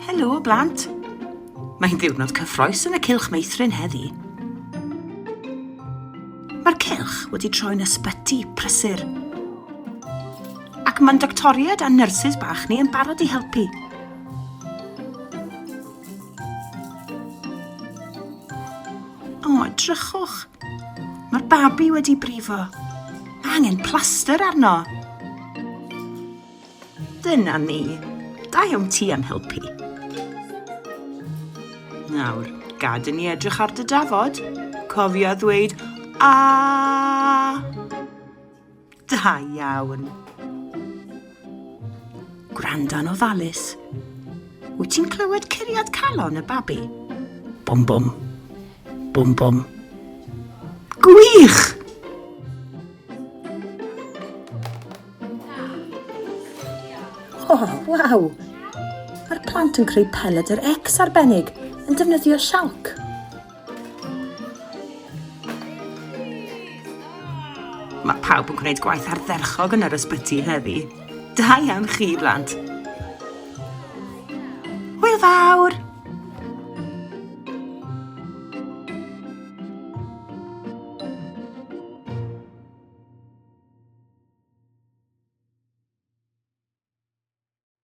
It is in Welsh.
Helo, blant! Mae'n ddiwrnod cyffroes yn y cilch meithrin heddi. Mae'r cilch wedi troi'n ysbyty prysur. Ac mae'n doctoriaid a nyrsys bach ni yn barod i helpu. O, edrychwch. Mae'r babi wedi brifo. Mae angen plaster arno. Dyna ni. Da iawn ti am helpu. Nawr, gad i ni edrych ar dy dafod. Cofio ddweud a. Da iawn. Gwranda'n ofalus. Wyt ti'n clywed curiad calon y babi? Bum bum. Bum bum. Gwych! O, oh, waw! Mae'r plant yn creu peled yr ex arbennig yn defnyddio sialc. Mae pawb yn gwneud gwaith ardderchog yn yr ysbyty heddi. Da iawn chi, blant. Hwyl fawr!